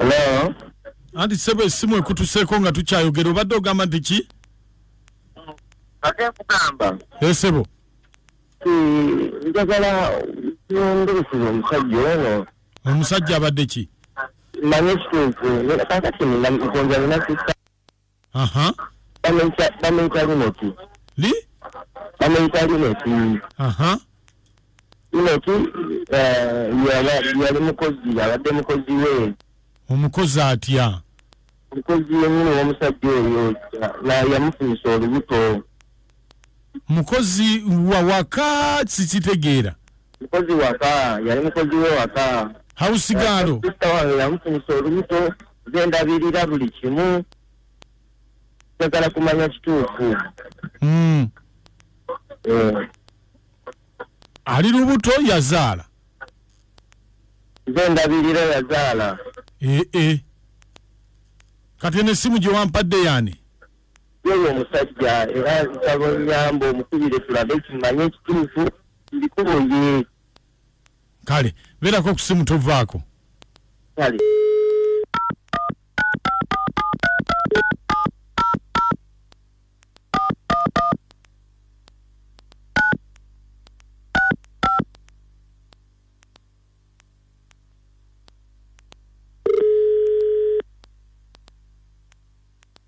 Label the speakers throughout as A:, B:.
A: Hello. anti ssebo
B: essimu ekutuseeko nga tukyayogera obadde ogamba nti ki
A: ate nkugamba esebo
B: njagala
A: nyongereseza omusajja ono omusajja abadde
B: ki manye
A: ekituufu kakati nkonja nina sista aha
B: bamuyita
A: bamuyita linoti li
B: bamuyita
A: linoti aha linoti eh, yaba- yali mukozi yabadde mukozi we omukozi
B: atya mukozi
A: yenyini womusajja oyo na- yamufunisa olubuto
B: mukozi wa waka sikitegeera mukozi
A: waka yali mukozi we waka hausigaalo
B: sista wange
A: yamufunisa olubuto nze ndabirira buli kimu njagala kumanya kituufu mm.
B: eh. ali lubuto yazaala nze
A: ndabirira yazaala ee eh, eh.
B: kati eno essimu gyewampadde yani Yewe
A: omusajja era nsaba nyamba omukubire tulabe kimanye ekituufu ndikuboye
B: kale beerako okusimu tovaako
A: kale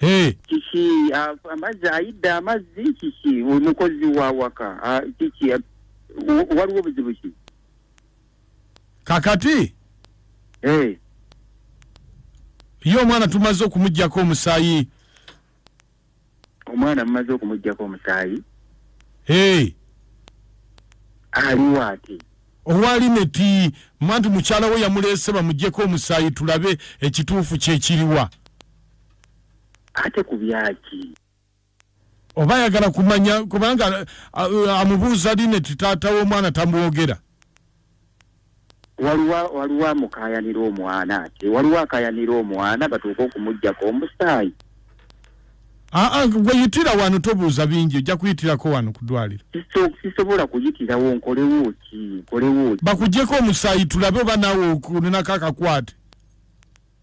B: Eh. kiki ah, amazzi
A: ayidde amazzi kiki omukozi wa waka ah, kiki ah, w- waliwo obuzibu ki kakati
B: Eh, ye omwana tumaze okumugyako omusaayi
A: omwana mumaze okumugyako omusaayi Eh. aliwo ate owali neti
B: manti mukyala we yamuleese bamugyeko omusaayi tulabe ekituufu kyekiriwa
A: ate ku byaki
B: oba ayagala kumanya kubanga amubuuza linet taata w'omwana tamwogera
A: waliwo waliwo amukayanira omwana ate waliwo akayanira omwana batuuka okumugjako omusaayi aa ah, ah,
B: gweyitira wano tobuuza bingi ojja kuyitirako wano kudwaliro sisobola
A: kuyitirawo nkolewo ki nkolewo ki bakugyeko
B: omusaayi tulabe oba naawe okulinako akakwate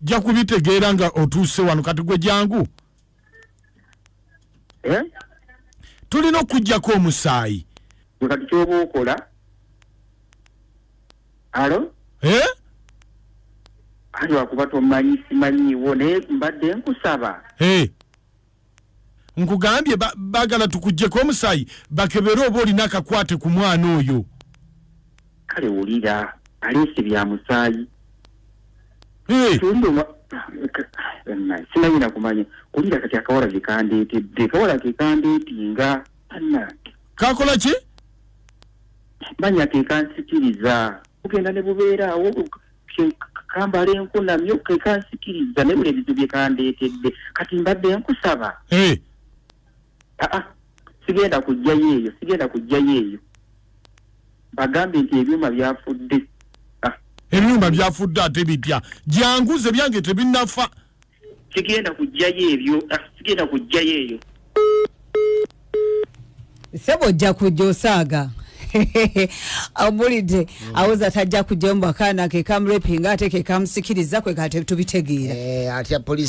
B: jja kubitegeera nga otuuse wano kati gwe jangu eh? tulina okujjako omusaayi kati kyoba
A: okola alo eh? ali wakuba tomanyi simanyiiwo naye mbadde nkusaba eh?
B: nkugambye bagala tukujjeko omusayi bakebere oba olina akakwate ku mwana oyo
A: kale wulira aleese bya musaayi simanyi nakumanya kulira kati akawala kekandeetedde kawala
B: kekandeetinga
A: ana
B: kakola ki
A: manya kekansikiriza kugenda ne bubeeraawo kambala enku namyo kekansikiriza naye buli ebizibu byekandeetedde kati mbadde nkusaba aa ah, ah, sigenda kujjayo eyo sigenda kujjayo eyo bagambye nti ebyuma byafudde ah.
B: ebyuma byafudde ate bipya gyanguze byange tebinafa sigenda
A: kujjayo ebyo ah, sigenda kujjayo
C: eyo sebo ojja kujja osaaga amulidde mm. awoza tajja kujjayo mu bakaana kekamurepinga
D: ate
C: kekamusikiriza kwekatebitubitegeera eh, atya polisi